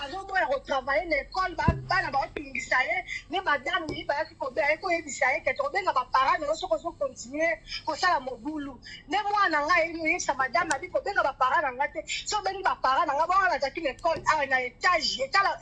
azoboya kotravaille na ekole bana baotungisa ye ne madame yi bayaki kobeya ye koyebisa ye kete kobenga baparent na yo soki ozokontinue kosala mobulu nde mwana na ngai eyebisa madame abi kobenga baparent na ngai te so obengi baparent na ngai baa nazalaki na ekole awa na etage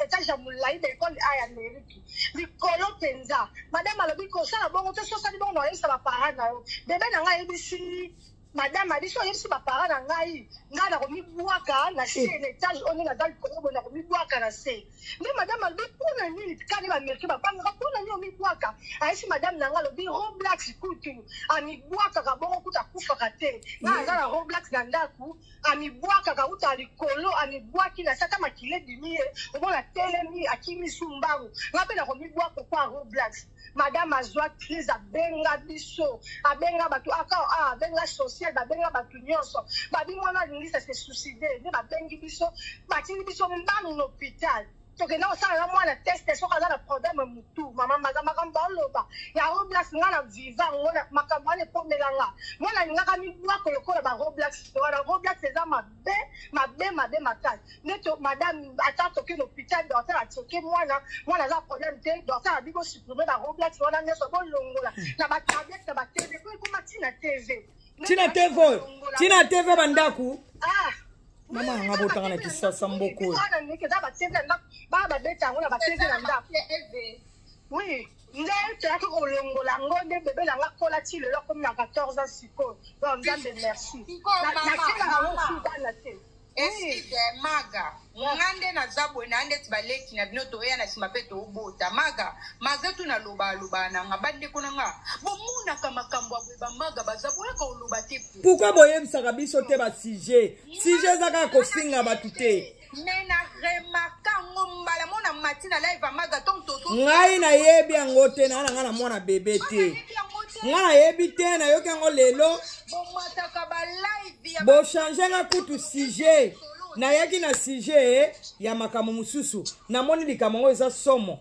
etage ya molai na ekole a ya ameriki likolo mpenza madame alobi kosala bongo te so osali bongo na oyebisa baparent na yo bebe na ngai ayebisi madame na biso oyebisi bapara na ngai ngai nakomibwaka na se eh. na etage oyo ndenge naza likolo boye nakomibwaka na se nde madame alobi mpona nini kani baamerike babangaka mpona nini omibwaka ayesi madame na ngai alobi roblax kutu amibwakaka bongo kutu akufaka te ngai aza na roblax na ndako amibwakaka uta likolo amibwaki na sata makila ebimi ye omona telemi akimisi mbangu ngai mpe nakomibwaka kwa roblax madame azwa crise abenga biso abenga bato aka ah, ah, abenga social babenga bato nyonso babi mwana alingisa se suicide nde babengi biso batindi biso mbano na hôpital tokenda kosalaka mwana teste soki aza na problème motu mama maza makambo baoloba ya roblax nga na viva ngo makambo wana ekomela nga mwana alingaka mibwako lokola baroblax wana roblax eza mabe mabe mabe mabe makasi neti madame ata toke na hôpital dorte na tioke mwana mwana aza problème te dorte na bibo supprime ba roblati wana nyonso bolongola na batablette na batv po ekoma ntina tv ntina tv oyo ntina tv bandako ah. mama yanga botanga na kisasa mboko oyo eza batv na ndako baa babeta yango na batv na ndako oui nde toyaki kolongola yango nde bebe na nga kola ti lelo akomi na 14 ans sikoyo donc nzambe merci nakelaka ngo subana te eside maga nga nde naza boye na ndeti baleki na bino toya na nsima mpe tobota maga maga tu naloba aloba na nga bandeko na nga bomonaka makambo ya boye bamaga baza boyaka oloba te pourkui boyebisaka biso te basujet sujet eza kaka kofinga bato te mais na remarka ngo mbala mona mati na live amaga to mtoto ngai nayebi yango te naa na ngai na mwana bebe te ngai nayebi te nayoki yango lelo bochange nga kutu sujet nayaki na sujet eh, ya makambo mosusu namoni likambo yango eza somo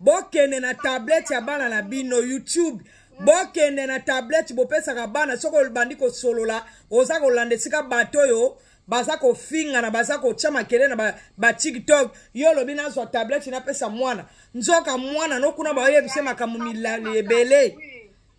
bokende na tablette ya bana na bino youtube bokende na tablette bopesaka bana soki obandi kosolola oza kolanda esika bato oyo baza kofingana baza kotya makele na batiktok ba yo olobi nazwa tablette napesa mwana nzoka mwana nokuna baoyebise makambo milali ebele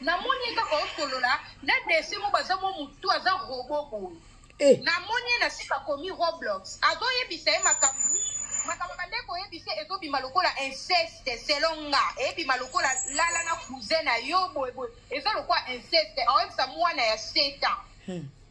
namoni ye kaka osolola na dese mo baza mo motu aza robo boye eh. namoni ye na sika komi roblox azoyebisa ye makambo makambo bande koyebisa ezobima lokola inceste selon nga eyebima lokola lala na cousin na yo boyeboye eza lokola inceste aoyebisa mwana ya 7 ans hmm.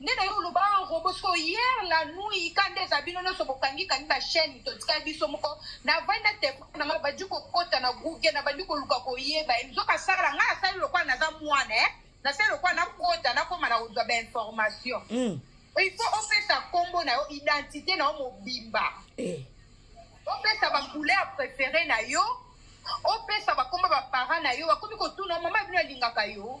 nde nayo oloba en robo siko hier la nuit ka nde eza bino nyonso bokangi kangi ba chaîne totikali biso moko navandi na telefone na ngai bandi kokota na google nabandi koluka koyeba ye nzoka asala ngai asali lokola naza mwana e nasali lokola nakota nakoma na kozwa bainformation hmm. il faut opesa nkombo na yo identité na yo mobimba eh. opesa bacouleur préféré na yo opesa bakombo baparent na yo bakomi kotuna mama bino alingaka yo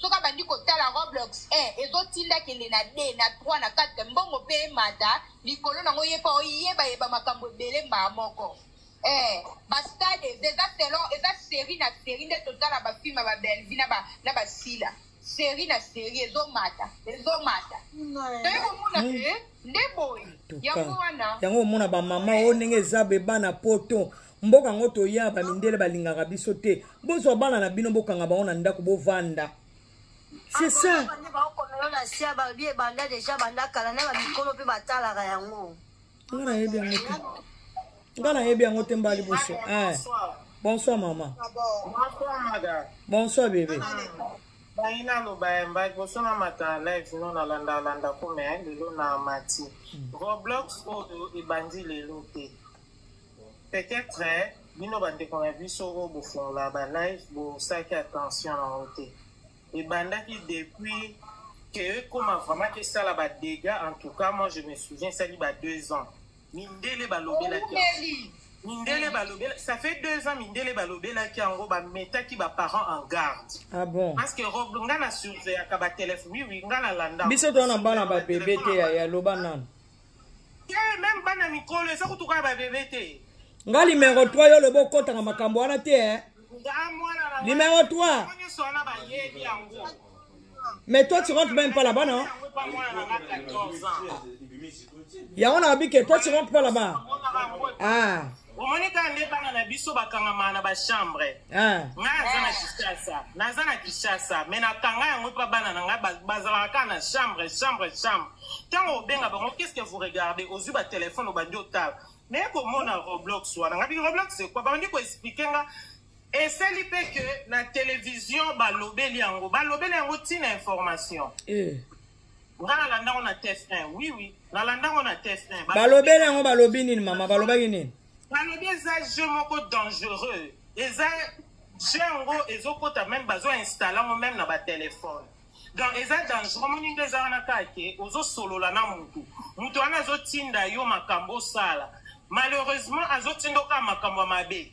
soki abandi kotala roblox eh, ezotinda kende na d na 3 na 4 mbongo mpe emata likolo nango ye mpo oyebayeba makambo ebele mbaa moko eh, bastade eza selon eza série na série nde totala bafilme ya babelvi na basila série na série ezomata ezomata toye komona hmm. eh, nde boye yango wana yango omona bamama oyo ndenge eza beba na poto mboka yango toya bamindele balingaka biso te bozwa bana na bino bokanga bango na ndako bovanda c'est ça nga nayebi yango te nga nayebi yango te mbali boso eh. bonsoir mama ah bonsoir bebe bangi naloba ya mba liboso na mata live no nalanda alanda kome lelo na mati hmm. roblox oyo ebandi lelo te Peut être bino bandeko na biso oyo bofungola ba live bosalaki attention na yango te ebandaki depuis que ekoma vraiment kesala ba dégats en tout cas moi je me souviens esali ba deux ans mindele balobelaki mindele balobela ça fait deux ans mindele balobelaki yango bametaki baparent en garde ah bon parce que rob nga na surveillaka batelefone wiwi nga na landa biso tona bana babebe te yaya loba nano nga limero 3 yo lobo okotaka makambo wana te eh? limero 3 mais toi tu rentre même pas là-bas non yango na babike toi tu rentre pas là-bas ah omoni kaka nde bana na biso bakangamaka na bachambre ah. nga aza na kishasa naza na kishasa me nakanga yango mpa bana na ngai bazalaka kaka na chambre chambre chambre ntango obenga bango qu'est ce que vous regarde ozwi batelefone obandi otala me komona roblox wana nga biki roblox ekwa bandi koexplike nga esali mpe ke na televizio balobeli yango balobeli yango ntina information eh. nga nalanda ngo na tf1 oui oui nalanda ngo na tf1 balobeli yango balobi nini mama balobaki nini balobi eza jeu moko dangereux eza jeu yango ezokota meme bazo installe yango meme na batelefone donc eza dangereux moni nde eza wana kaka ke ozosolola na motu motu wana azotinda yo makambo osala malheureusement azotinda okaa makambo ya mabe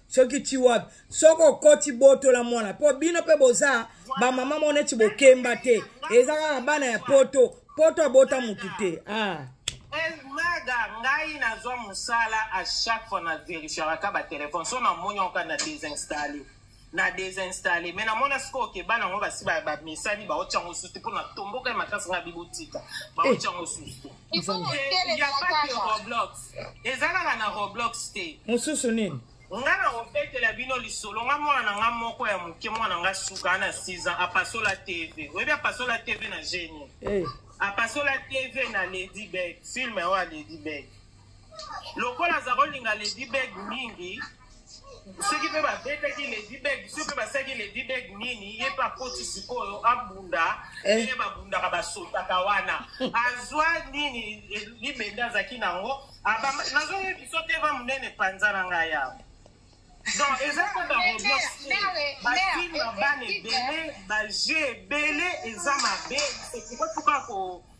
soki ti wapi soki okoti botola mwana mpo bino mpe boza bamama moko neti bokemba te eza kaka bana ya poto poto abota motu te ah. maga ngai nazwa mosala a chaque fois na verifiaka batelefone so namoni yango kaka na desinstalle na desinstalle me namona sikoyo ke bana yango basi bamesani baotya yango susu te mpo na tombokai makasi ngai bibotika baotya yango susu te ezalaka na roblox te mosusu nini nga na kobetela bino lisolo nga mwana na nga moko ya moke mwana nga suka na 6 ans apasola tv oyebi apasola tv na genie eh. apasola tv na lady beg filme oyo ya lady beg lokola aza kolinga lady beg mingi soki mpe babetaki ledibeg soki mpe basalaki ledibeg nini ye mpe akoti sikoyo abunda eh. ndenge babundaka basotaka wana azwa nini eh, libende azalaki nango nazoyebiso te va monene mpanza na ngai yawa donc eza mpe baroblix te bafilme bana ebele baje ebele eza mabe ekokotuka ko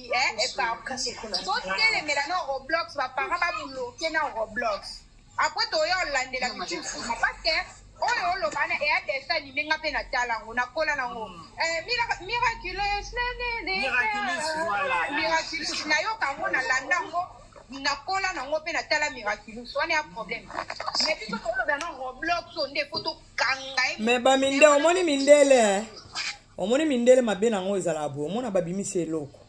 eh, eparpille totelemela na roblox baparent babloke na roblox apres toya olandela mitusuma parce que oyo oloba na eya dessin anime nga mpe natala yango nakola nango mm. eh, miraculous miraculous nayoka yango nalanda yango nakola nango mpe natala miraculous wana ya problème mais biso tolobela na roblox nde fo tokanga ye mais baminde omoni mindele omoni mindele mabe na yango ezalaka boye omona babimisi eloko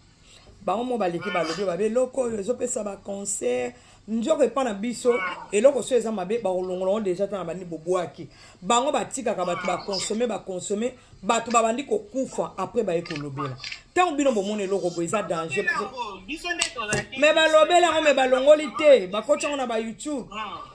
bango mo baleki balobi babe eloko oyo ezopesa baconcert nzoko epa na biso eloko so eza mabe bakolongola yango deja tana bandi bobwaki bango batikaka bato bakonsome bakonsome bato babandi kokufa apres baye kolobela ntango bino bomona eloko boye eza danger me balobela yango me balongoli te bakoti yango na bayoutube ah.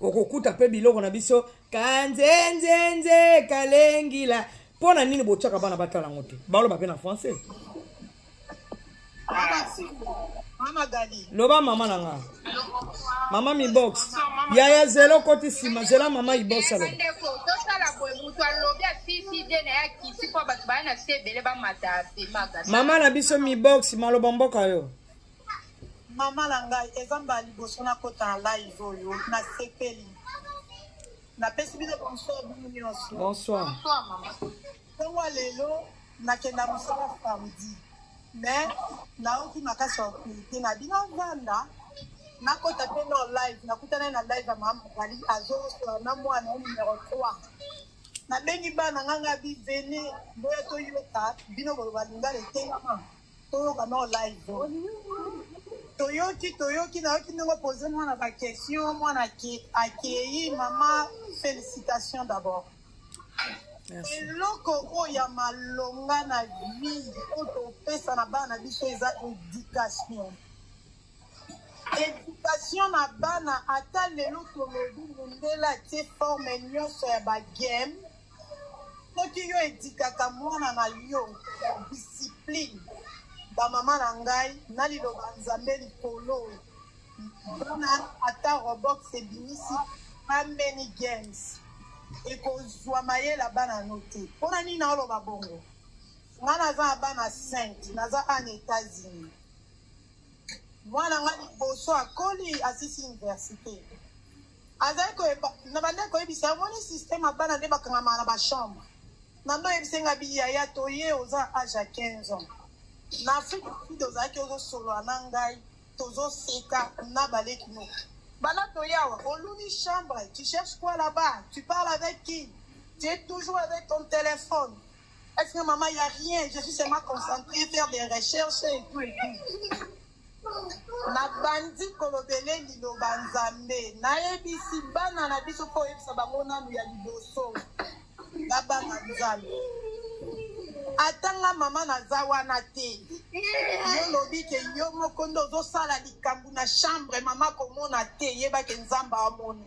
okokuta mpe biloko na biso kanzenzenze kalengila mpo na nini botyaka bana batala yango te baloba mpe na français loba mama na nga mama mibox yaya zela okoti nsima zela mama ibox aloba mama na biso mibox maloba mboka yo Maman na ngai eza mbala liboso nakota na live oyo nasepeli napesi bino bonsoir bino nyonso bonsoir ntongo ya lelo nakenda mosala samedi me naoki makasi ya kote na bino vanda nakota mpe no live nakutana ye na live ya mama mobali azosola na mwana ye numero 3 nabengi bana ngai ngai bivene boya toyoka bino boloba lingala etengama toyoka no live toyoki toyoki nayoki ndenge opose mwana baquestion mwana akei mama félicitation d'abord eloko oyo ya malonga na vie oyo topesa na bana na biso eza éducation éducation na bana ata lelo tolobi mondele atie forme nyonso ya bagame soki yo edikaka mwana na yo discipline bamama na ngai na liloba nzambe likolo bana ata robox ebimisi ameni games ekozwa mayela bana no te mpo na nini naoloba bongo nga naza na bana 5 naza an états-unis mwana nga liboso akoli asisi université azali koyeba na banda koyebisa omoni systeme ya bana nde bakangamaka na bachambre na nde oyebisa nga biyaya toye oza na age ya 15 ans na afrique sud ozalaki ozosolola na ngai tozoseka na baleki no bana toyawa oluni chambre tu cherche quoi là-bas tu parle avec qui tu es toujours avec ton téléphone est-ce que maman il y a rien je suis seulement concentré faire des recherches et tout et tout Nabandi kolobele liloba Nzambe. Nayebisi bana na biso mpo oyebisa bango nanu ya liboso babanga Nzambe. Ata nga mama naza wana te. Yo lobi ke yo moko nde ozosala likambo na chambre mama komona te yebake Nzambe amoni.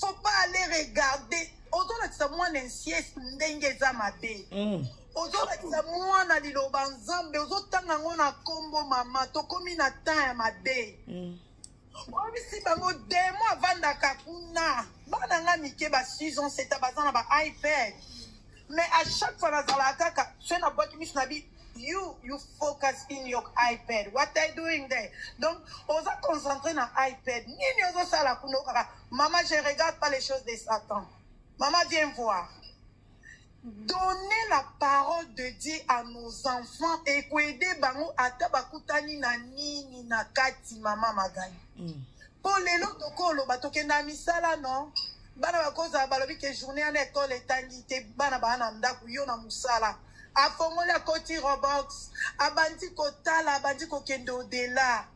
faut pas aller regarder ozolakisa mwana insies ndenge eza mabe mm. ozolakisa mwana liloba nzambe ozotanga yango na nkombo mama tokomi na temps ya mabe mm. obisi bango demo avandaka kuna bana nga mike ba 6 ans seta baza na ba ipad mais à chaque fois nazalaka kaka soki nabwaki miso na bi You, you focus in your iPad. What are you doing there? Donc, oza concentré na iPad. Nini ozo sala kuno kaka. Maman, je regarde pas les choses de Satan. Maman, viens voir. Donner la parole de Dieu à nos enfants et aider bango ata bakutani na nini na kati maman Magali. Mm. Po lelo tokolo batokenda misala non. Bana bakozala balobi que journée en école etangi te bana bana ndaku yo na musala. afongoli akoti robox abandi kotala abandi kokende odela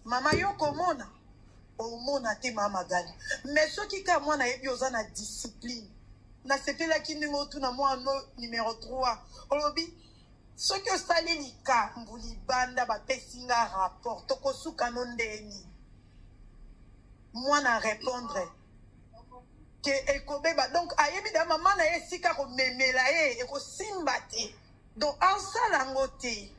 mama yo komona omona te mama magali me soki kaka mwana ayebi oza na discipline nasepelaki ndenge otuna mwana numero 3 olobi soki osali likambo libanda bapesi nga rapport tokosukano ndeni mwana repondre ke ekobeba donc ayebi da mama na ye esika komemela ye ekosimba te donc asala yango te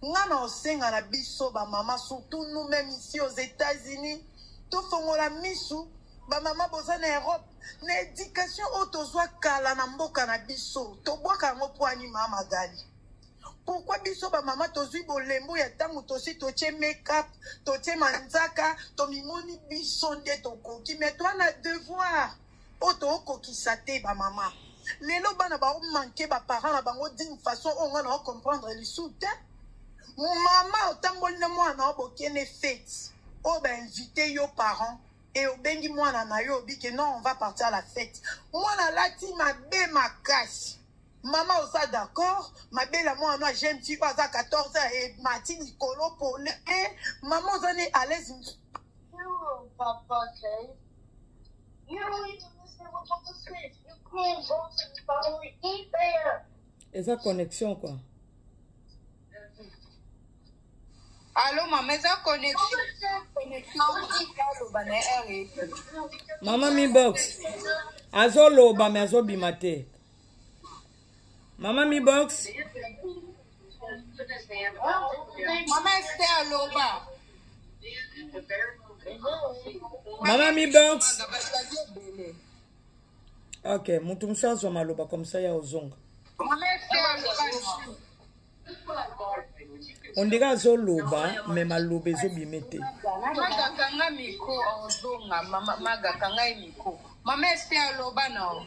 nga na osenga na biso bamama surtout nous même ici aux états-unis tofongola misu bamama boza na europe na éducation oyo tozwa kala na mboka na biso tobwaka yango mpo anima magali Pourquoi biso ba mama tozui bolembo ya tango tosi totie make-up, totie manzaka, tomimoni biso nde tokoki mais toi na devoir oyo tookokisa te ba mama. Lelo bana ba manque ba parents na bango d'une façon oyo nga na comprendre lisu te. Mama otamboli na mwana obokene fete oyo ba invite yo parents et obengi mwana na yo obi que non on va partir à la fête. Mwana alati mabe makasi. Maman oza d'accord mabela mwana na jeune fille oyo aza 14 ans et mati likolo pole e maman oza ne à l'aise papa okay. eza connexion quoi alo mama eza connexion mama mibox azoloba me azobima te mama mi box mama ester aloba mama mi box ok motu mosusu azwa maloba comme ça ya ozonga ondire azoloba me maloba ezobime te magakanga miko ozonga magakanga ye miko mama ester aloba nao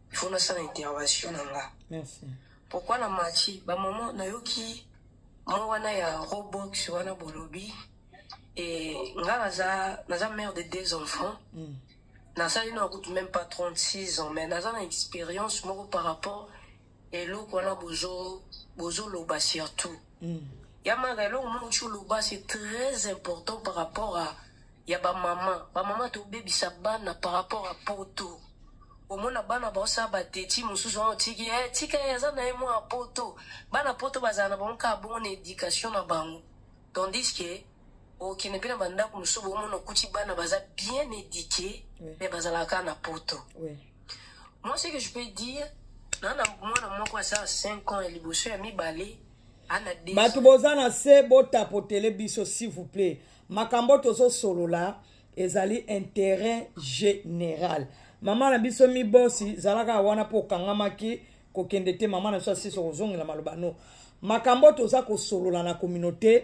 il faut nasala intervention na nga merci pourquoi na mati bamama nayoki mwa wana ya robox wana bolobi e nga naza naza mare de deux enfants mm. nasali na kutu même pas 36 ans mais naza na expérience moko par rapport eloko wana bozoloba surtout mm. ya maka eloko moko ti oloba c'est très important par rapport à ya bamama bamama tobebisa bana par rapport ya poto omona bana baosala bateti mosusu wana otiki e eh, tika ye aza na ye mwa poto bana poto bazala na bango kaka bongo na éducation na bango tandis ke okende mpe na bandako mosusu bomona okuti bana baza bien éduqué mais bazalaka kaka na poto moi ce que je peux dire na na mwana moko asala 5 ans ya liboso ya mibale bato boza na se botapotele biso s'il vous plaît makambo tozosolola ezali intérêt général mama na biso mibosi zalaka wana mpo okangamaki kokende te mama na biso asisi kozongela maloba no makambo toza kosolola na communauté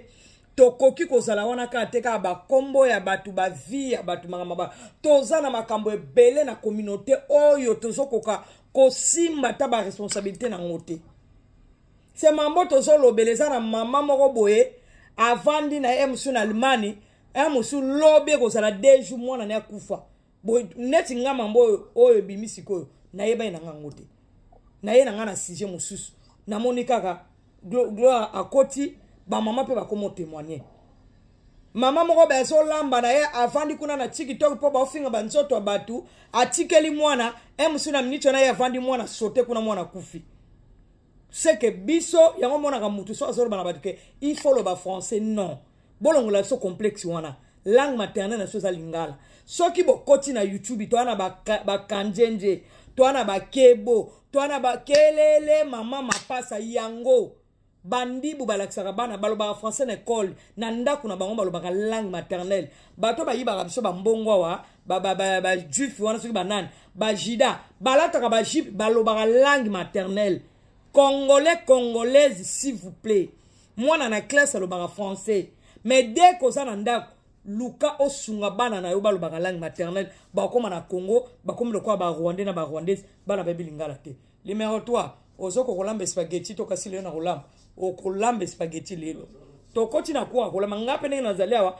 tokoki kozala wana kaka te kaka bakombo ya bato bavie ya bato makambo ba toza na makambo ebele na communauté oyo tozokoka kosimba ata baresponsabilité na yango te se mambo tozolobela eza na mama moko boye avandi na ye mosusu na allemagne ya mosusu lobi ekozala de jour mwana na akufa neti nga mambo oyo oyo ebimi sikoyo nayebani na nga yango te naye na nga na sujet mosusu namoni kaka gloire akoti bamama mpe bakoma otemoigne mama moko bazolamba na ye avandi kuna na tiktok mpo baofinga banzoto ya bato atikeli mwana e mosusu na miniti wana ye avandi mwana sote kuna mwana akufi seke biso yango omonaka motu so azoloba na bato ke il faut loba français non bolongola biso complexe wana langue maternel na biso eza lingala soki bokoti na youtube toa na bakanjenje ba toa na bakebo toa na bakelele mama mapasa yango bandibu balakisaka bana balobaka français na ekole na ndako na bango balobaka langue maternelle bato bayibaka biso bambongo awa bajuife wana soki banani bajida balataka bajipe balobaka langue maternelle congolais congolaise s'il vous plaît mwana na classe alobaka français mais dès koza na ndako luka osunga bana na yo balobaka langue maternelle bakoma na congo bakomi lokola barwandais na barwandaise bana bayebi lingala te limero 3 ozoka kolamba espageti to kasi lelo na kolamba okolamba espageti lelo tokoti na kuaka kolamba ngai mpe ndenge nazali awa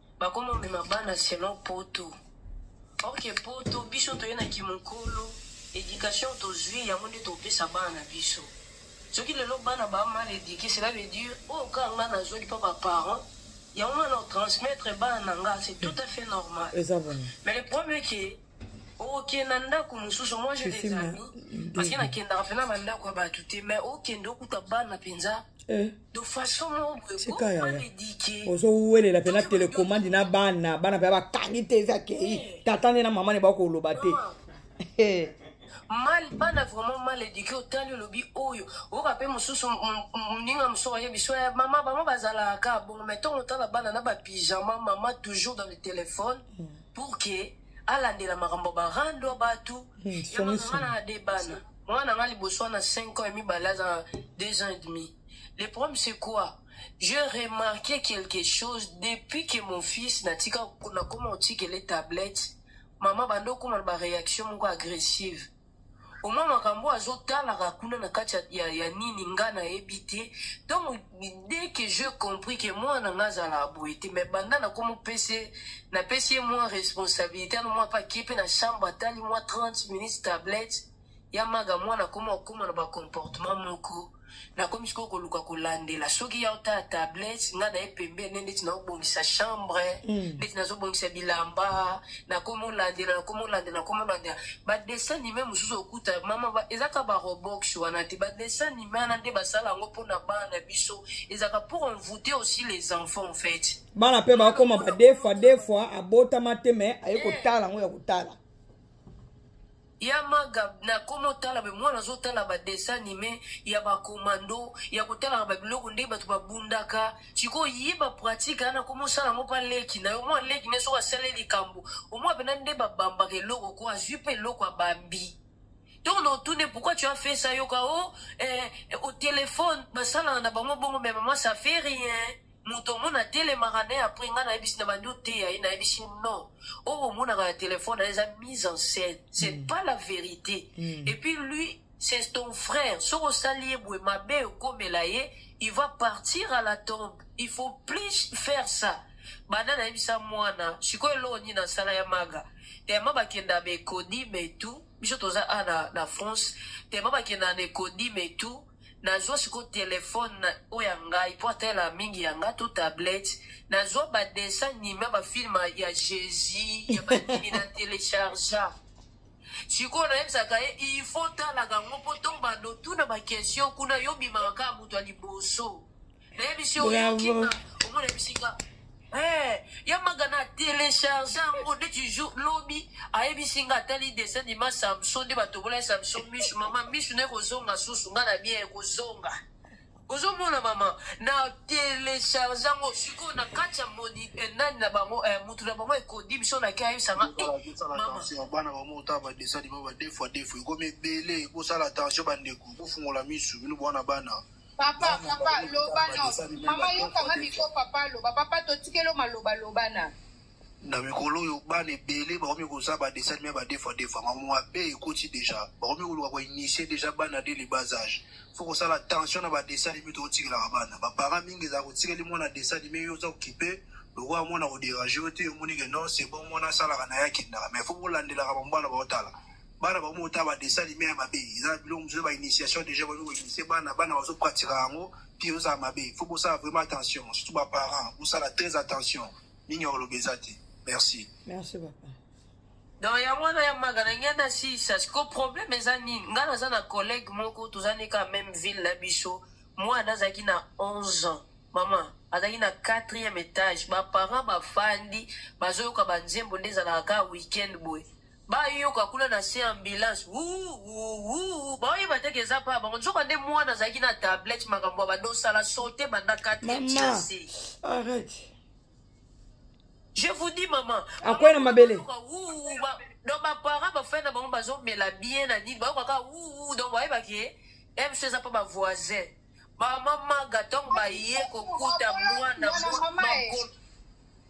bakoma omema bana selon poto orke poto biso toye na kimokolo éducation tozwi yango nde topesa bana na biso soki lelo bana ba mal éduqué cela veut dire oyo oh, kaka nga nazwaki mpa baparent yango nga na transmettre bana na nga c'est tout à fait normal mais le problème est que okenda oh, ndako mosusu moi je les amis parce que nakendaka mpe na bandako ya bato te mais okende oh, okuta bana mpenza eh. de façon moko boye Tika comment yaya. m'éduquer ozowuelela mpe na Toki boye, telekomandi na bana bana mpe bakangi te eza akei tata nde na mama ne bakoloba te Eh, mal bana vraiment mal éduqué otali olobi oyo oyoka mpe mosusu m- m- moninga mosusu ayebi so ya mama bango bazalaka kaka bongo mai ntongo otala bana na bapyjama mama toujours dans le téléphone pour que alandela makambo barando bato ya songi mama songi. na ade bana Moi, n'a liboso a 5 ans et demi, balaza 2 ans et demi. Le problème, c'est quoi J'ai remarqué quelque chose depuis que mon fils n'a tika na comment tika les tablettes. Maman bando comment ba réaction moko agressive. Au moins makambo azo tala kuna na kati ya, ya, ya nini nga na ebite. Donc dès que je compris que mwana nga azalaka boye te mais banda nakomopese napesi ye mwa responsabilité ano mwa pakie mpe na chambre atali mwa 30 minutes tablette ya maga mwana akoma okoma na bacomportement moko nakomi sikoyo koluka kolandela soki ya otala tablette nga naye pembeni ndeti naobongisa chambre mm. ndeti nazobongisa bilamba nakomi olandela nakomi olandela nakomi olandela badessin nime mosusu okuta mama ezaka barobox wana te badessin wana nde basala yango mpo na bana na biso ezalaka pour envoute aussi les enfants en fait bana mpe bakoma ba deux fois deux fois abotama te me aye eh. kotala yango ya kotala ya maga nakoma otala me mwana azotala badessin anime ya bakomando ya kotalaka babiloko nde bato babundaka sikoyo ye bapratike ana koma osala yango mpa leki na yo mwa leki ne soki asali likambo omwa mpena nde babambaka eloko ko azwi mpe eloko abambi Donc na otune pourquoi tu as fait ça yoka oh eh, au téléphone basalana na bango bongo mais maman ça fait rien moto omona atelemaka ne après ngai nayebisi na bandi oteya ye nayebisi non oyo oh, omonaka na telefone na eza mise en scène c'est mm. pas la vérité mm. et puis lui c'est ton frère soki osali ye boye mabe okomela ye il va partir à la tombe il faut plus faire ça banda nayebisa mwana sikoyo eloko nini asala ya maga tellement bakenda mais codi mais tout biso toza a na, na france tellement bakenda ne codi mais tout nazwa sikoyo telefone oyo ya ngai mpo atala mingi ya ngai to tablette nazwa badessin anime ya bafilme ya jésus ya banini na telechargea sikoyo nayebisaka ye il faut talaka yango mpo tombando tuna baquestion kuna yo bimaka kaka moto ya liboso nayebi si oyoki omona bisika eh, ya maga na telecharge yango neti jour lobi ayebisi nga atali dessin dima samson nde batobola ye samson misu mama misu na ekozonga susu nga na bien ekozonga ozomona mama na telecharge yango sikoyo na kati ya moni eh, nani na bango eh, motu na bango ekodi biso naki ayebisanga bana bamo otala badessin dima badefoa defo ekomi ebele ekosala tension bandeko bofungola misu bino bwana bana papa papa loba no mama yokanga miko papa loba papa totikelo maloba loba na na mikolo oyo bana ebele bakomi koza badesani me badefa defa mamo mabe ekoti deja bakomi koluka koinitie deja bana de libas age fo kosala tension na badesani me tokotikelaka bana baparent mingi ezala kotikeli mwana desani me yo oza kokipe lokola mwana koderange yo te omoni ke non se bon mwana asalaka na ye akendaka me fo kolandelaka bambana baotala bana bango moko ta badessin anime ya mabe eza na biloko mosusu ba initiation déjà bazo koinitie bana bana bazo pratika yango mpe ozala mabe faut bosala vraiment attention surtout baparent bosala très attention mingi ya koloba eza te merci merci papa donc yango wana ya maga na ngai nasisa siko problème eza nini ngai naza na collègue moko toza nika même ville na biso mwana azalaki na 11 ans mama azalaki na quatrième étage baparent bafandi bazoyoka banzembo nde ezalaka kaka week-end boye bayoka kuna na se ambulance wuuwuu baoyeba te keza pa bango nzoka nde mwana azalaki na tablette makambo ya badosala sote banda 4 arrête je vous dis maman akwei na mabele donc baparent bafai na bango bazomela bien na nini bayoka kaka wuwu donc bayebaki ye eh, mso eza mpo bavoisin mama maga ntongo baye kokuta mwana makolo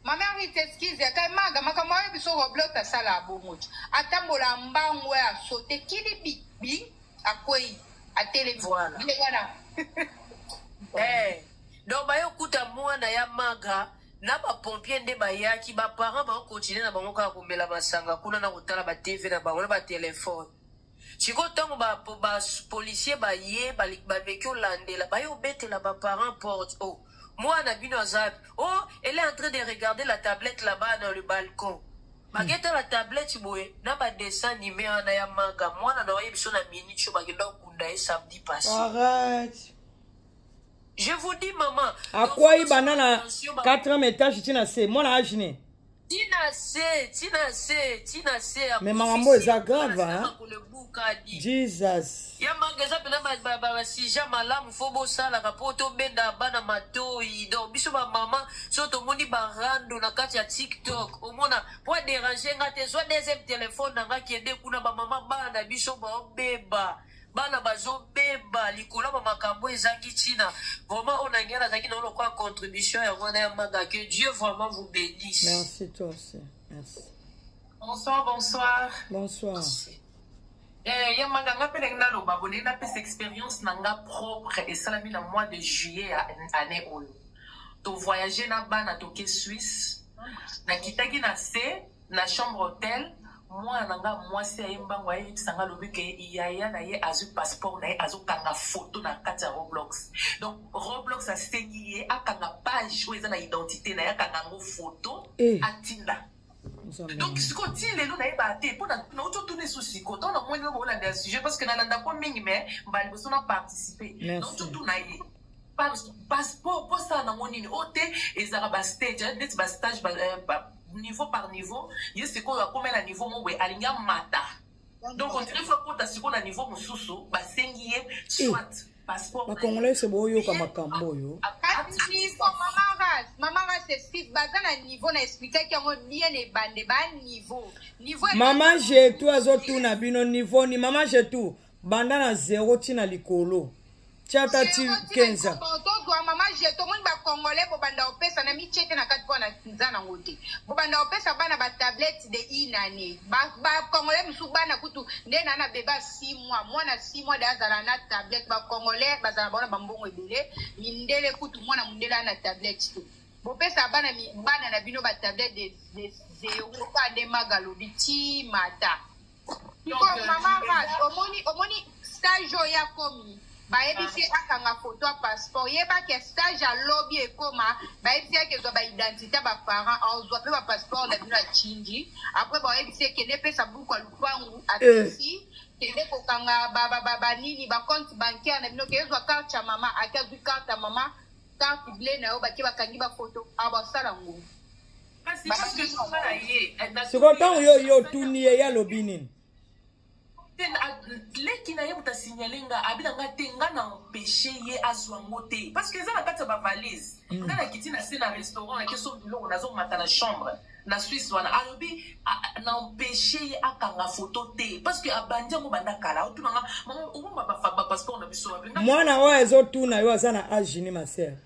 Ma mère oui t'excuse ya kai maga makambo ayo biso roblox asala abongo ti atambola mbangu ya sote kili bi bi akwei atelemi Voilà. ye wana Eh, donc baye okuta mwana ya maga na bapompier nde bayaki baparent baokontinue na bango kaka komela masanga kuna na kotala batv na bango na batelefone sikoyo ntango bapolisier ba, ba baye bameki olandela baye obetela baparent porte o oh, mwana bino aza o oh, elle est en train de regarder la tablette là-bas dans le balcon baketa la tablette boye na badessin anime wana ya manga mwana na oye biso na minute oyo bakenda kokunda ye samedi passé je vous dis maman akwai bana na 4 etage ti na se mwana agine Tina se, tina se, tina se. Mais maman bo eza grave hein. Jesus. Ya manga eza pena ba ba ba sija malamu fo bo sala ka po to benda bana matoyi. Donc biso ba maman so to moni ba rando na kati ya TikTok. Omona po déranger nga te zo deuxième téléphone na nga kende kuna ba maman bana biso ba beba. bana bazobeba likolo ya bamakambo ezangi ntina vraiment oyo nangai nazalaki nao lokola contribution yango wana ya manga que dieu vraiment vous bénisse merci toi aussi merci bonsoir bonsoir bonsoir merci. Eh, ye manga nga mpe ndenge naloba bolingi napesa expérience na nga propre esalami na mois de juillet ya année oyo tovoyage na bana toke suisse nakitaki na se na chambre hotel mwana na nga mwasi aye mbango ayebisa nga alobi ke yaya na ye azwi passeport na ye azokanga foto na kati ya roblox donc roblox asengi ye akanga page oyo eza na identité na ye akanga yango foto eh. atinda donc sikoyo ti lelo nayebaka te mpo nauti otuna esu sikoyo ntango namoni yo boolanda ya sujet parce que nalandako mingi mais mbala liboso na participe nauti otuna ye passeport mpo osala nango nini oyo te ezalaka bastage neti bastage niveau par niveau ye sikoyo akomi na niveau moko boye alingi amata donc ondire fo akota sikoyo na niveau mosusu basengi ye soit eh, passeport bakongolai se boyoka makambo oyo baza na niveau na explikaki yango bien ebande ba niveau niveau mama jetu azotuna bino niveau ni mama jetu banda na zero ti na likolo tiata ti kenza tozwa mama je tomoni bacongolais bobanda kopesa na mitie te na kati mpo na nza nango te bobanda kopesa bana batablette de une année bacongolais mosusu bana kutu nde na na beba 6 mois mwana 6 mois de azala na tablette bacongolais bazala baona bambongo ebele mindele kutu mwana mondele ana tablette te bopesa bana bana na bino batablette de zero pa nde magalobi ti mata sikoyo mama ras omoni omoni stage oyo ya komi bayebisi ye akanga foto ya passeport yeba ke stage ya lobi ekoma bayebisi ye kezwa baidentité ya baparent azwa mpe bapasseport na bino ya chingi apres bayebisi ye kende epesa buku ya lupangu apesi eh. kende kokanga banini bacompte bancaire na bino ke ezwa karte ya mama ake azwi karte ya mama karte ble na yo bake bakangi bafoto abasala ah, ngo siko ntango yo yo otuni ye ye alobi nini leki na ye moto asignale nga abi na nga te nga na empeshe ye azwa ngo te parce que eza na kati ya bavalise mm. nga nakiti na se na restaurant nake so biloko nazomata na chambre na swisse wana alobi na empeshe ye akanga foto te parce que abandi yango banda kala otuna nga obomba bapasseport na biso mwana oyo azotuna yo aza na age ni masere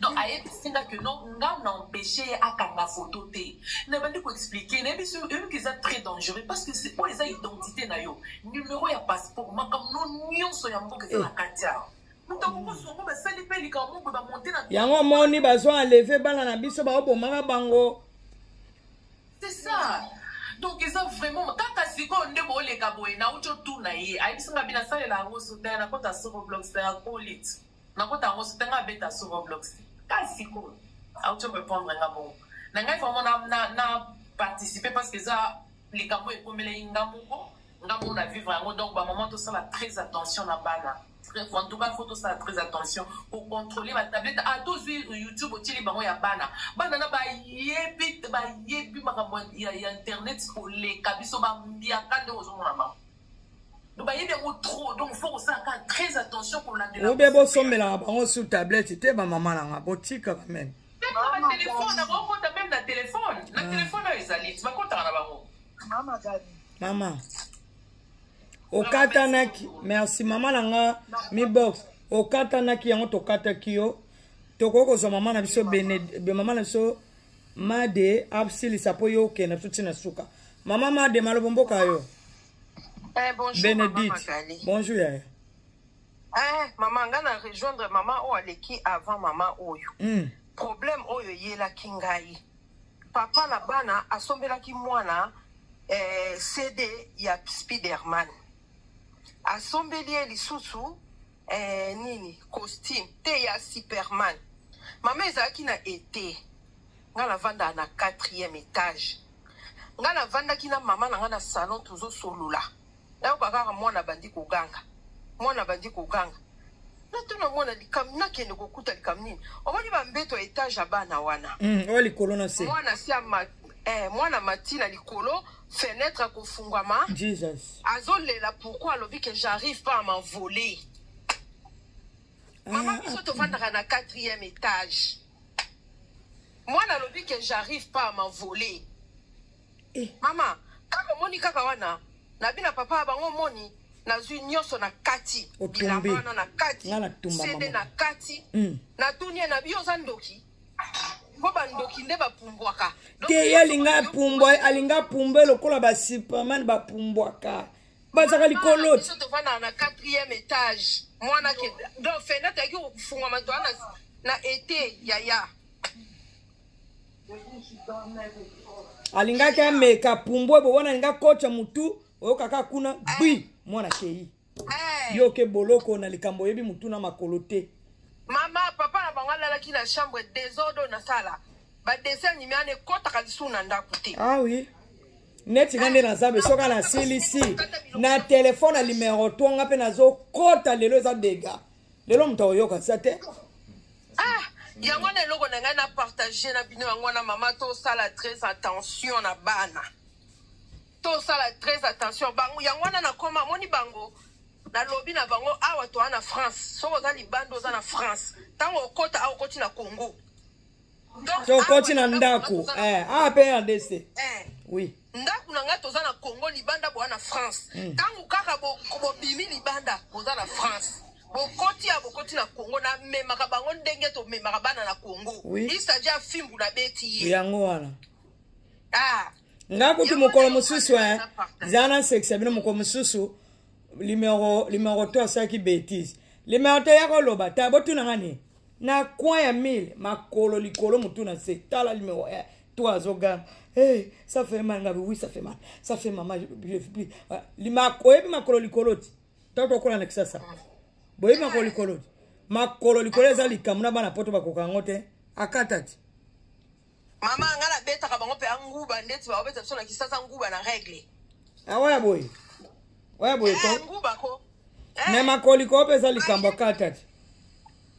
donc ayebisi nga que non nga na empêche ye akanga photo te nabandi koexplike nayebi so oyebiki eza très dangereux parce que oyo eza identité na yo numero ya passeport makambo no nyonso ya mboka eza na eh. kati awa yango omoni bazo enleve bana na biso baobomaka bango c'est ça donc eza vraiment kaka sikoyo nde booleka boye nauti otuna ye ayebisi nga binasalela yango sotaya na kota soko blox na ya colit nakota yango sote nga abeta sur roblox kasi sikoyo auti orépondre nga bongo na ngai vraiment na, na, na participer parce que eza likambo ekomelei nga moko nga moko na vivre yango donc bamama tosala très attention na bana en tout cas faut tosala très attention kocontrôle batablette a ah, tozwi youtube otyeli bango ya bana bana na bayebi bayebi makambo ya internet koleka biso bambiaka nde ozomona bango obe bosombelaka bango sur tablette te bamama na nga botika quand même mama okatanaki merci mama na nga mibox okatanaki yango tokataki yo tokoki kozwa mama na biso mama na biso made asilisa mpo yo okenda biso ntina suka mama made malobo mboka yo eh, bonjour, benedite bonjour yaya eh, mama ngai na rejoindre mama oyo aleki avant mama oyo mm. problème oyo eyelaki ngai papa na bana asombelaki mwana eh, cd ya spiderman asombeli ye lisusu eh, nini costume te ya superman mama ezalaki na ete nga navandaka na quatrième étage nga navandaki na mama na nga na salon tozosolola nayoka kaka mwana abandi koganga mwana abandi koganga natuna mwana likambo nakende kokuta likambo nini omoni bambeto ya etage ya bana wana mm, oyo likolo na se mwana si eh, mwana mati na likolo fenetre akofungwama jesus azolela pourquoi alobi que j'arrive pas à m'envoler mama ah, biso ah. tofandaka na quatrième étage mwana alobi que j'arrive pas à m'envoler eh. mama kaka omoni kaka wana nabi na papa ya bango omoni nazwi nyonso na kati bilamba wana na kati sede na kati mm. natuni ye nabi yo oza ndoki mpo bandoki nde bapumbwaka te ye alinga apumbwa alinga apumbe lokola basuperman bapumbwaka bazaka likolo biso tovandaka na quatrième étage mwana ke donc fenda toyaki kofungwama toa na, na ete yaya alingaki ameka pumbwe bo wana alinga kocha motu oyokaka kuna bui mwana kei Eh. yo oke boloko na likambo oyebi motu na makolo te mama papa na bango alalaki na chambre desordre oyo nasala badessin anime wana ekɔtaka lisusu na ndako te ah oui neti nga nde naza be soki nasilisi na telefone ya limero to nga mpe nazokɔta lelo eza dega lelo moto akoyoka sa te ah yango wana eloko na ngai na partage na bino yango wana mama tosala très attention na bana tosala très attention bango yango wana nakoma amoni bango nalobi na bango awa toa na france soki oza libanda oza na france ntango okota awa okoti na congo tokoti na ndako eh, awa mpe rdc eh. oui ndako na ngai toza na congo libanda boa na france hmm. ntango kaka bobimi libanda boza na france bokoti ya bokoti na congo namemaka bango ndenge tomemaka bana na congo oui. isaji ya fimbu nabeti ye yango wana ah. nga kutu mokolo mosusu eh, za na nsekisa bino mokolo mosusu limero limero to asalaki betise limero to ya koloba ta botuna nga nini na coin ya mile makolo likolo motu na se tala limero eh, to azoganga hey, eh, ça fait mal ngabi oui ça fait mal ça fait mama oyebi makolo likolo ti to tokola na kisasa boyebi makolo likolo ti makolo likolo eza likambo na bana poto bakoka yango te akata ti Mama nga na betaka bango pe anguba ndeti ba obeta biso na kisasa nguba na règle. Ah ouais boy. Ouais boy ko. Eh, nguba ko. Eh. Mais makoli ko pesa likambo kata.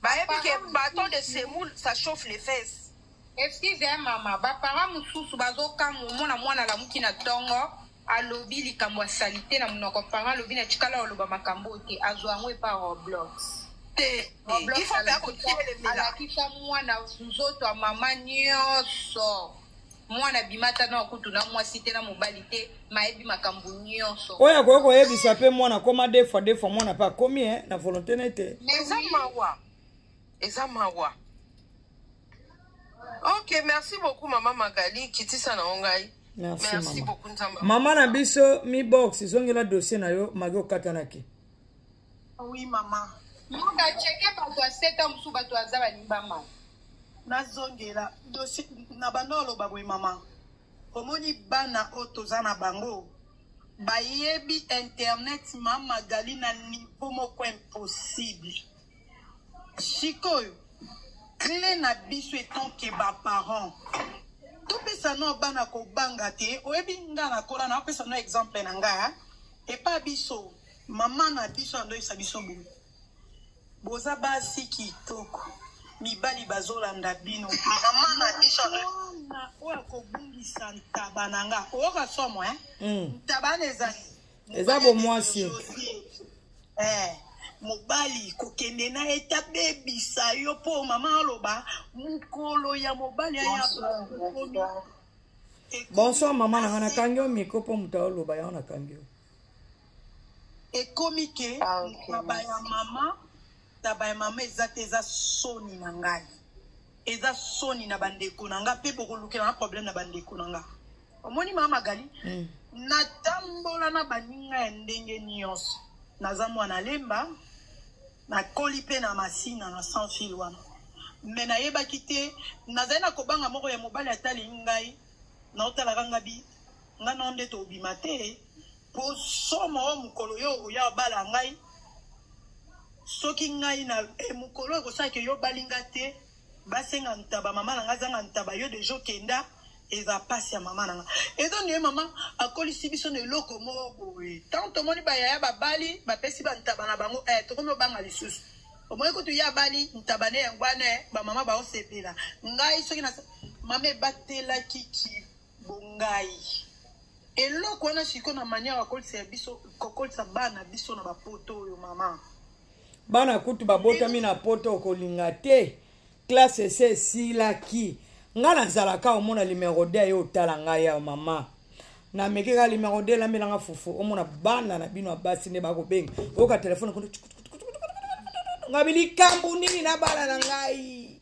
Ba epi ke bâton de semoule ça chauffe les fesses. Excusez maman, ba parents mususu bazokamwa mwana mwana lamuki na tongo. alobi likambo ya salite na monoko parent alobi na tikala oloba makambo oyo te azwa yango epa roblox te alakisa mwana nzoto ya mama nyonso mwana bimata na kutu na mwasi te na mobali te mayebi makambo nyonso oyo akoki koyebisa mpe mwana akoma defoi defoi mwana mpe akomi e na volonté na ye te eza mawa eza mawa ok merci beaucoup mama magali kitisa na yo ngai merci, merci mama. beaucoup nzambe mama na biso mi box zongela dossier na yo magi okatanaki ah oui mama muka cheke bato ya seta mosusu bato aza balimbama nazongela dossier na banda oloba boye mama omoni bana oyo toza na bango bayebi internet ma magali na niveau moko impossible sikoyo cle na biso etanke baparent topesa no bana kobanga te oyebi nga nakola na opesa no exemple na nga epa biso mama na biso andoyisa biso boye boza basi kitoko mibali bazolanda bino mama na biso oyo akobungisa ntaba na nga oyoka somo eh? mm. ntaba na ezali eza bomwasi eh, mobali kokende na ye tabebisa yo mpo mama aloba mokolo ya mobali aya bonsoir mama nanga nakangi yo miko mpo moto aoloba yango nakangi yo ekomi ke ah, taba ya mama taba ya mama eza te eza soni na ngai eza soni na bandeko na ngai mpe bokolukela na problème na bandeko na ngai omoni mama magali mm. natambola na baninga ya ndenge nyonso naza mwana lemba nakoli mpe na masina na sans fil wana me nayebaki te nazali na kobanga moko ya mobali atali ngai naotalaka nga bi nga nao nde tobima te mpo somo oyo mokolo yo oya obala ngai soki ngai na e mokolo ekosalaki yo obali nga te basenga ntaba mama na nga azanga ntaba yo deja okenda eza pasi ya mama na nga eza ndeye mama akolisi biso na eloko moko boye ntango tomoni bayaya babali bapesi bantaba na bango eh, tokomi obanga lisusu omoni kutu ye abali ntaba ne yango wana eh, bamama baosepela ngai soki na mama ebatelaki ki bongai eloko wana siko na manière akolisa ya biso kokolisa bana biso na bapoto oyo mama bana kutu babotami na poto okolinga te klase esi esilaki ngai nazalaka omona limero de ye otala ngai ya mama nameki kaka limero de elambelanga fufu omona bana na bino ya basi nde bakobenga oyoka telefone kono ngai bilikambo nini na bana na ngai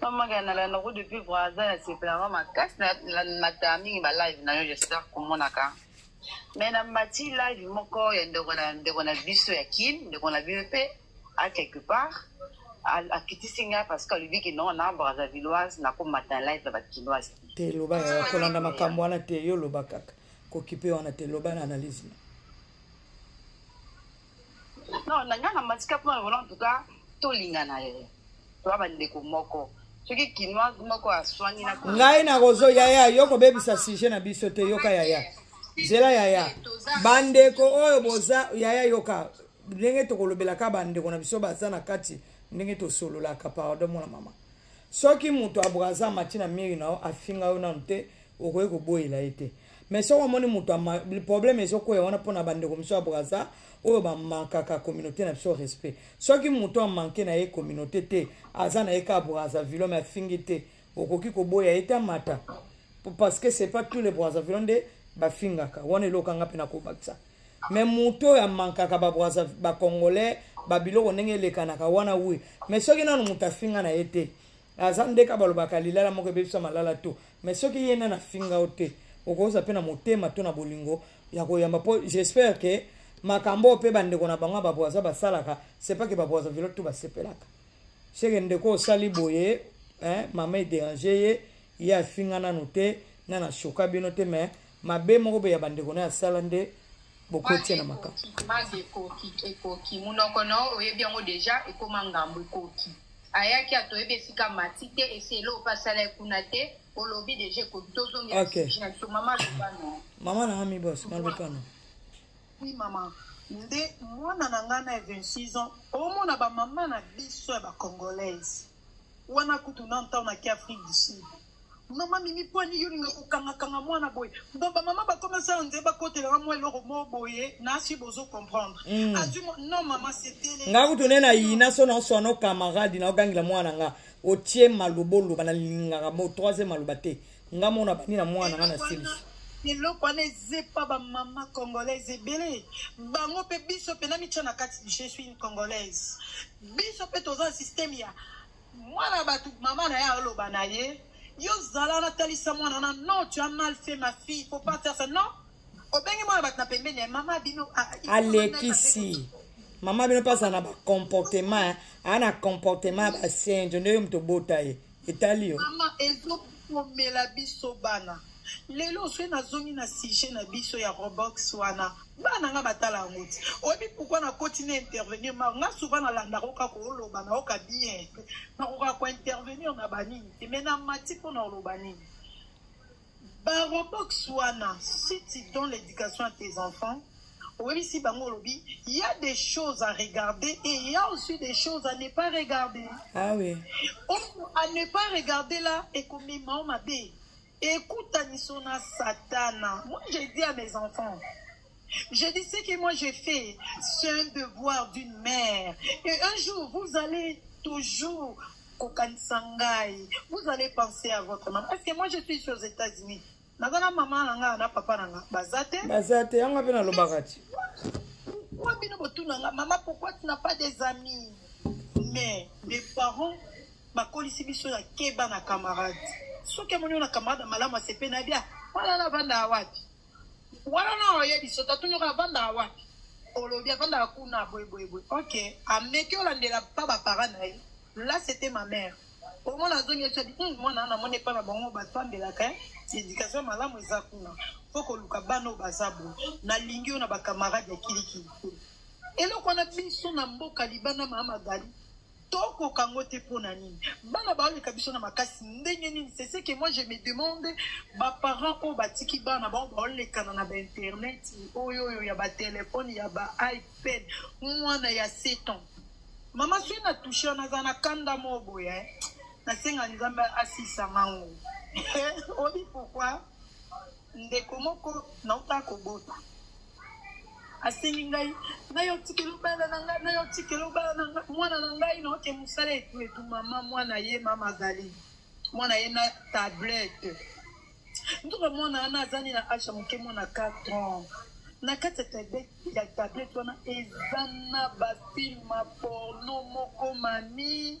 Maman Gana la noko depuis Brazza na sepela mama kasi na na ta mingi ba live na yo j'espère komona ka. Mais na mati live moko ya ndeko na ndeko na biso ya Kin, ndeko na biso pe à quelque part akitisi nga parce que alobi ke non na Brazzavilloise na ko mata live ya ba Kinoise. Te loba ya kolanda makambo wana te yo loba kaka. Kokipe wana te loba na analyse. non na nga na matika mpo na vola en tout cas tolingana ye toa bandeko moko soki kinoise moko aswani na ngai nakozo yaya yo kobebisa sujet na biso te yoka yaya zela yaya bandeko oyo boza yaya yoka ndenge tokolobelaka bandeko na biso baza na kati ndenge tosololaka pardon mwana mama soki moto abraza mati na miri na yo afinga yo nanu te okoki koboyela ye te mais soki omoni moto problème ezokweya wana mpo na bandeko mosusu ya braza oyo bamankaka communauté na biso respect soki moto amanke na ye communauté te aza na ye ka braza vilome afingi te okoki koboya ye te amata parce que c'est pas tous les brazavillo nde bafingaka wana eloko anga mpe nakobakisa mais moto oyo amankaka bacongolais babiloko ndenge elekanaka wana wi mais soki nano moto afinga na ye te aza ndeka balobaka lilala moko ebebisa malala to mais soki ye nani afinga yo te okozwa mpe na motema to na bolingo ya koyamba mpo j'espère ke makambo oyo mpe bandeko na bango ya babwaza basalaka sepake babwaza vilo to basepelaka seke ndeko osali boye mama ederange ye ye afinga nanu te nana shoka bino te mais mabe moko boye ya bandeko na ye asala nde bokotia na makambo mabe ekoki ekoki monoko na yo oyebi yango deja ekoma ngambo ekoki ayaki ato oyebi esika mati te esi eloko mpe asala ye kuna te olobi deja ekoki tozongela biso mama loba no mama nanga mibos maloba no oui mama nde mwana na ngai na 26 ans omona bamama na biso ya bacongolaise wana kutu na ntango na ke afrique du sud mama mimi mpo ani yo olinga kokangakanga mwana boye bo bamama bakomasala nzee bakotelaka mwa eloko mo boye nasi bozo comprendre mm. azwi non mama setele nga kutu nde na yina so naoswana ocamarade naogangela mwana nga otie maloba oloba nalingaka mo troisième maloba te nga mona bandi na mwana nga na silisi eloko wana ezepa bamama congolaise ebele bango mpe biso mpe namitya na kati je suis une congolaise biso mpe toza na systeme ya mwana bato mama na ye aloba na ye yo zala natalisa mwana wana non tu as mal fait ma fille faut pas faire ça non obengi mwana bato na pembeni ya mama bino alekisi mama bino mpe azala na bacomportement aa na comportement ya basenjo nde yo moto obota ye etali yo mama ezokomela biso bana lelo soki nazongi na sujet na biso ya robox wana bana nga batala yango ti oyebi pourkui nakoti na intervenir ma nga souvent nalandaka oka kooloba na oka bien nakoka kointervenir na banini te mai na mati mpo na oloba nini barobox wana site dans l'éducation à tes enfants oyebisi bango olobi y a des choses à regarder et il y a aussi des choses à ne pas regarder ah oui. oyo à ne pas regarder là ekomema o mabe ekutaniso na satana moi je dis à mes enfants Je dis ce que moi j'ai fait, c'est un devoir d'une mère. Et un jour, vous allez toujours kokanisa ngai vous allez penser à votre maman parce que moi je suis aux états unis naza na mama na ngai na papa na ngai baza te baza te yango mpe nalobaka ti pourkoi bino botuna ngai mama pourkoi tu na pas des amis mais les parents bakolisi biso ya keba na camarade soki amoni yo na camarade malamu asepe na bia wana na vanda wapi wana na oyebi soki atunyoka avandaka wapi olobi avandaka kuna boyeboyeboye ok ameki olandela pa bapara na ye là c'était ma mère omona azongi esi abi hmm, mwana wana amoni epai na bango batambelaka eh? éducation malamu eza kuna mpo koluka bana oyo baza boye nalingi yo na bakamarade ya kilikili te eloko wana biso na mboka libanda mama magali tokoka yango te mpo na nini bana baoleka biso na makasi ndenge nini c'est ce que moi je me demande baparent oyo batiki bana bango baolekana na bainternet oyo oyo ya batelefone ya baipad mwana ya 7 ans mama soki na touche wana aza na kanda moko boye eh. nasenga nzambe asisa ngango obi pourkui ndeko moko nauta kobota asengi ngai nayo tikelo bana na ngai nayo tikelo bana na ngai mwana na ngai naoke mosala etu etu mama mwana ye mama azali mwana ye na tablette ntuka mwana wana azali na asha moke mwana 4 ans na kati ya tablette ya tablette wana eza na bafilma porno moko mami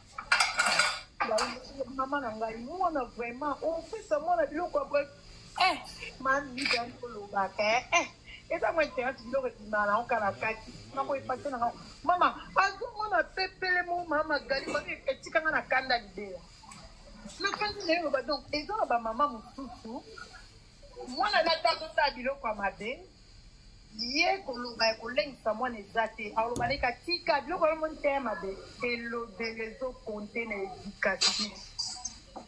mama na ngai mwana vraiment opesa mwana biloko ya boye eh mami jani kolobaka eh, eh. eza mwa internet biloko ebimaka nango kala kati nako epase na ngai mama azomona pepele mo mama gali bani etika ngai na kanda libela na kandi na ye loba donc eza na bamama mosusu mwana natazotaa biloko ya mabe ye koloba ya kolengisa mwana eza te akoloba na eka tika biloko yango moni te ya mabe elobeli ezokonte na education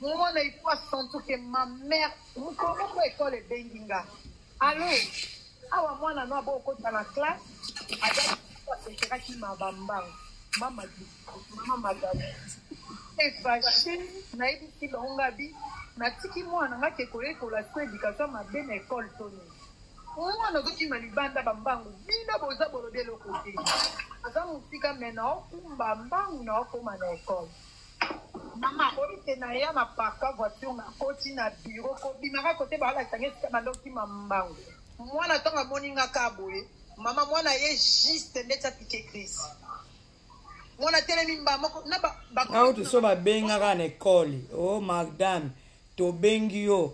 mwana ifo asentir ke ma mare mokolo moko ekole ebengi nga alo awa mwana no abo okota na classe azaekeraki ma bambango mama mama madame efashi nayebisi bango ngabi natiki mwana nga ke koyekola siko education mabe na ekole to nini mwana ozokima libanda bambangu bino boza bolobi eloko te aza mosika me naokumba mbangu naokoma na ekole mama akobi te naya na parka voiture nakoti na biro kobimaka kote baalakisa nge esika bandokima mbangu mwana ntango amoni nga ka boye mama mwana ye juste ndeti apike crise mwana atelemi mba moko na auti so babengaka na ekole o oh, madame tobengi yo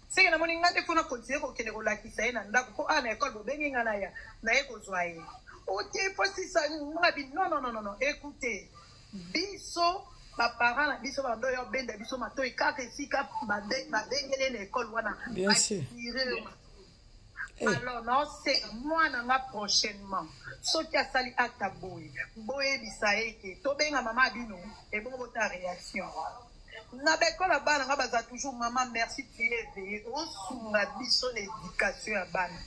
seke namoni ngai nde mpo na kontinue kokende kolakisa ye na ndako mpo awa na ekole bobengi ngai na ya na ye kozwa ye ote posisa nga bi non non non non écoute biso baparent na biso bando ya obenda biso matoi kaka esika babengele na ekole wana asirema eh. alors naoseka mwana nga prochainement soki asali acte boye boyebisa ye ke tobenga mama bino ebongo bota réaction na bekola bana nga baza toujours mama merci tu es éveillé osunga biso na éducation ya bana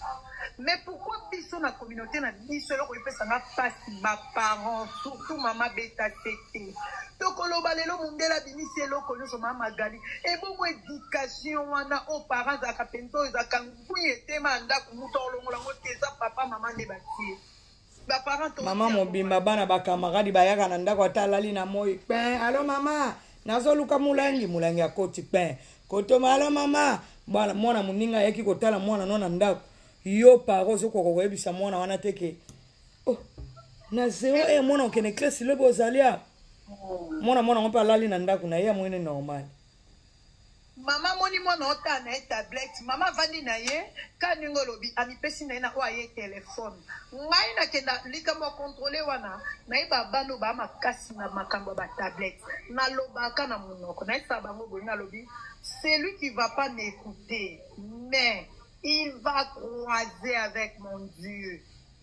mais pourquoi biso na communauté na biso eloko epesa nga mpasi baparent surtout mama beta tete tokoloba lelo mondele abimisi eloko nyonso mama magali ebongo éducation wana o parent azalaka mpenza oyo ezalaka ngwi etema ya ndako moto olongola yango te eza papa mama nde batie mama mobimba bana bakamaradi bayaka na ndako ata alali na moi pin alo mama nazoluka molangi molangi akoti pin kotoma alo mama bana mwana moninga ayaki kotala mwana no na ndako yo paro ozokoka koyebisa mwana wana te ke oh, na zero e eh, mwana okende klesi lobi ozali awa mwana mwana yango mpe alali na ndako na ye amoni normal Mama moni mwana ota na ye tablette mama avandi na ye ka ndenge olobi amipesi na ye na oyo aye telefone ngai nakenda likambo ya kontrole wana nayeba bana oyo baa makasi na makambo ya batablette nalobaka na monoko nayesaka bango boye nalobi celui qui va pas m'écouter mais il va croiser avec mon dieu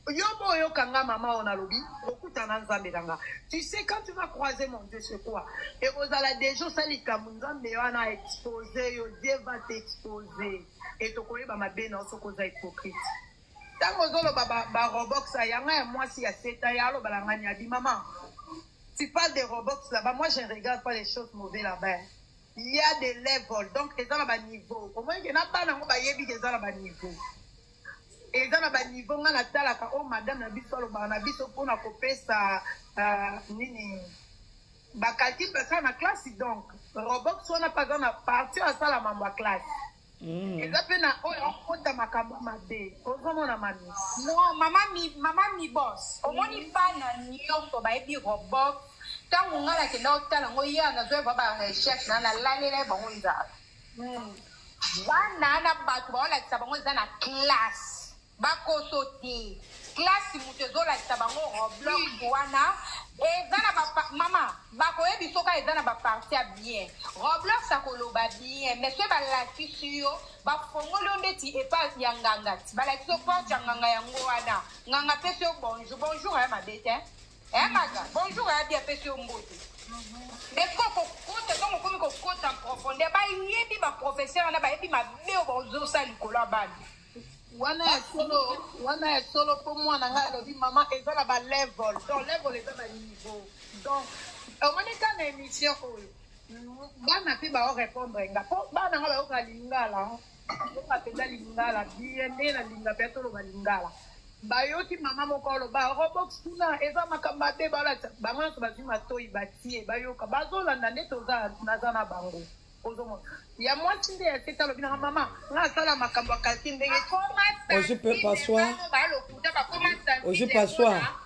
Yo bo oyoka nga mama oyo nalobi okutana nzambe na nga tu sais quand tu vas croiser mon dieu c'est quoi ekozala deja osali likambo nzambe wana expose yo dieu va t'expose e tokoyeba mabe na yo soki oza hypocrite ntango ozoloba barobox ba yanga ya mwasi ya seta ya alobala ngani abi mama tu parles de robox là-bas moi je ne regarde pas les choses mauvais là-bas il y a des levels donc eza na baniveau omonike na bana yango bayebi ke eza na baniveau eza na baniveau ngai natalaka oyo oh, madame na biso alobaka na biso mpona kopesa euh, nini bakalkile basala na classe donc robox wana mpe aza na parti oyo asala mambo ya classe mm. eza mpe na oyo akota makambo mabe ozomona mami no mama mi, mama mi bos omoni mm. bana nyonso bayebi robox ntango ngai nakenda kotala yango ye nazwa ebwa ba recherche na nalalela ye bango nzala bana na bato baolakisa bango eza na classe bakoso te classe moto ezolakisa bango roblox wana eza na mama bakoyebi soka eza na baparti ya bien roblox akoloba bien mais soki balakisi yo bafongoli yo ndeti epa ya nganga ti balakisi yo porte ya nganga yango wana nganga apesi yo bonjour bonjour aya mabe te Eh maga, bonjour abi apesi yo mbote. Mais ko ko kota donc okomi ko kota en profondeur ba yebi ba professeur wana ba yebi mabe oyo bazosa likolo ya bana. wana ya solo wana ya solo mpo mwana ngai alobi mama eza na balevel donc level eza na niveau donc omoni ka na émission oyo bana mpe baorépondre nga mpo bana nga bayoka lingala Oyoka mpenza lingala biye nde nalinga mpe toloba lingala bayoki mama moko aloba robox kuna eza makambo mabe balakisa bango nyonso bazwi matoi batie bayoka bazolanda nde toza naza na bango ozomona ya mwasi nde ya sete alobi nanga mama nga asala makambo ya kalti ndenge ozi mpe passoir ozi passoir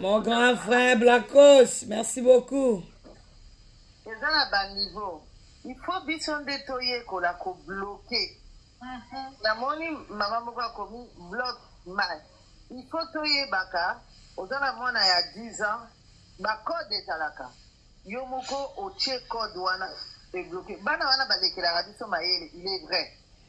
Mon grand frère Blacos, merci beaucoup. eza na baniveau il faut biso nde toyekola kobloke mhm. namoni mama moko akomi blok mal il faut toyebaka oza na mwana ya 10 ans bacode ezalaka yo moko otie code wana ebloke bana wana balekelaka biso mayele il est vrai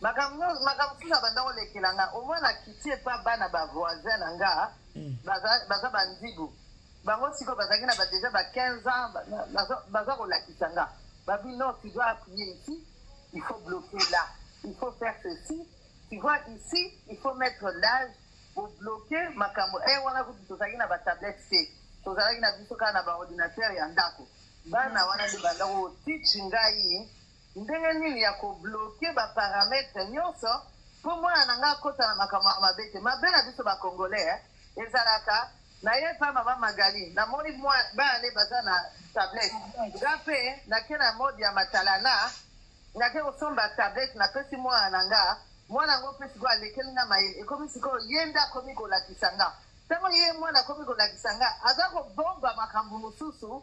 makambo makambo mosusu abanda kolekela nga omoi na kiti epa bana bavoisin na nga mm. baza bandibu bango sikoyo bazalaki na badeja ba 15 ans baza kolakisa nga babi non tu dois appuyer ici il faut bloquer là il faut faire ceci tu vois ici il faut mettre l'âge kobloke makambo e wana kutu tozalaki na batablette te tozalaki na biso kaka na baordinateur ya ndako bana wana nde banda kotichi ngai Ndenge nini ya ko bloquer ba parametres nyonso mpo mwana na ngai akota na makambo ya mabe te mabe na biso bacongolais eh, ezalaka naye mpa mama magali namoni bana nde baza na tablette nga mpe nake na mode ya matalana nake kosomba tablette napesi mwana na nga mwana yango mpe sikoyo alekeli nga mayele ekomi sikoyo ye nde akomi kolakisa nga ntango ye mwana akomi kolakisa nga aza kobomba makambo mosusu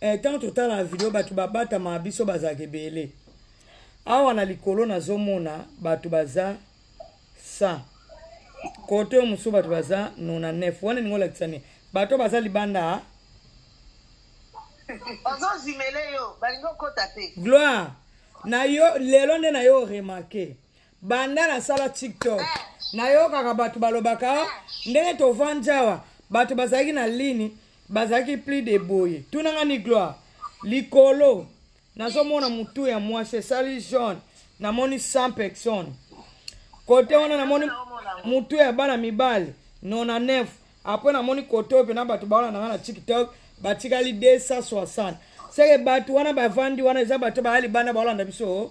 eh, ntango totala na video bato babatama biso bazalaka ebele awa na likolo nazomona bato baza 100 kote oyo mosusu bato baza 99 wana elingi olakisa nini bato baza libanda ozozimele yo balingi okota te gloire na yo lelo nde na yo remarke banda nasala tiktok eh. nayokaka bato balobaka eh. ndenge tovandi awa bato bazalaki na lini bazalaki plus de boye tunanga ni gloire likolo nazomona motu ya mwasi esali jaune namoni 100 personne kote wana namoni motu ya bana mibali 99 apres namoni kote oyo mpena bato bawana nanga na tiktok batikali 260 seke bato wana bavandi wana eza bato baya libanda baolanda biso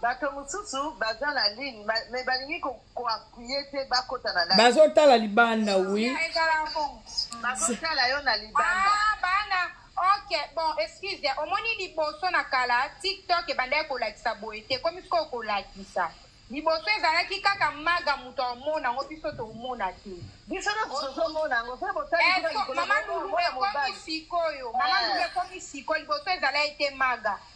bato mosusu baza na ligne me balingi koappuye te bakota na bazotala libanda wi bazotala yo na libanda ah, bana ok bon excuse omoni liboso na kala tiktok ebandaki kolakisa boye te komi sikoyo kolakisa liboso ezalaki kaka maga moto amona yango biso tomona te mama lulu ekomi sikoyo mama lulu ekomi sikoyo liboso ezalaki te maga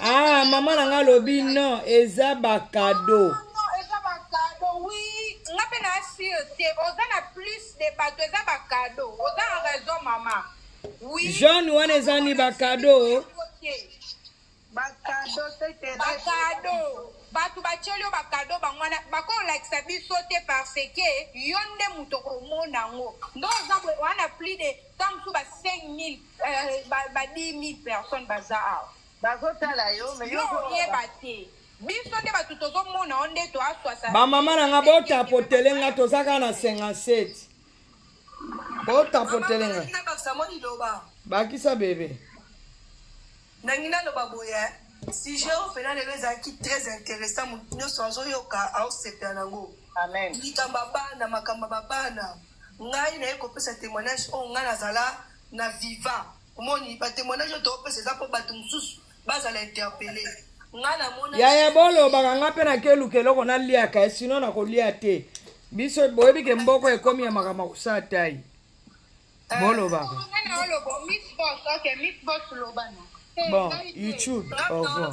ah mama na ngai alobi non eza bakado eza bakado wi nga mpe na assure te oza na plus de bato eza bakado oza na raison mama wi jeune wana eza ni bakado bakado bakado bato batyeli yo bakado bango wana bakolakisa biso te parce ke yo nde moto okomona yango ndo oza wana plus de temps mosusu ba 5000 Eh, ba 10000 personnes baza awa bazotala yo oyeba te biso nde bato tozomona yo nde to aswasa bamama na nga botapotele nga toza kaka na 57 botapotele nga bakisa bebe nangi naloba boye sujet oyo mpena lelo ezalaki très intéressant motu nyonso azoyoka aosepela nango likambo ya bana makambo ya babana ngai naye kopesa témoignage oyo ngai nazala na viva omoni ba témoignage oyo toopesa eza mpo bato mosusu bazala interpele ngai namona yaya bolobaka ngai mpe nakeluka eloko naliaka eh, sino nakolia te biso boyebi ke mboko ekomi ya makambo akosala tai eh, bolobaka bon youtube au revoir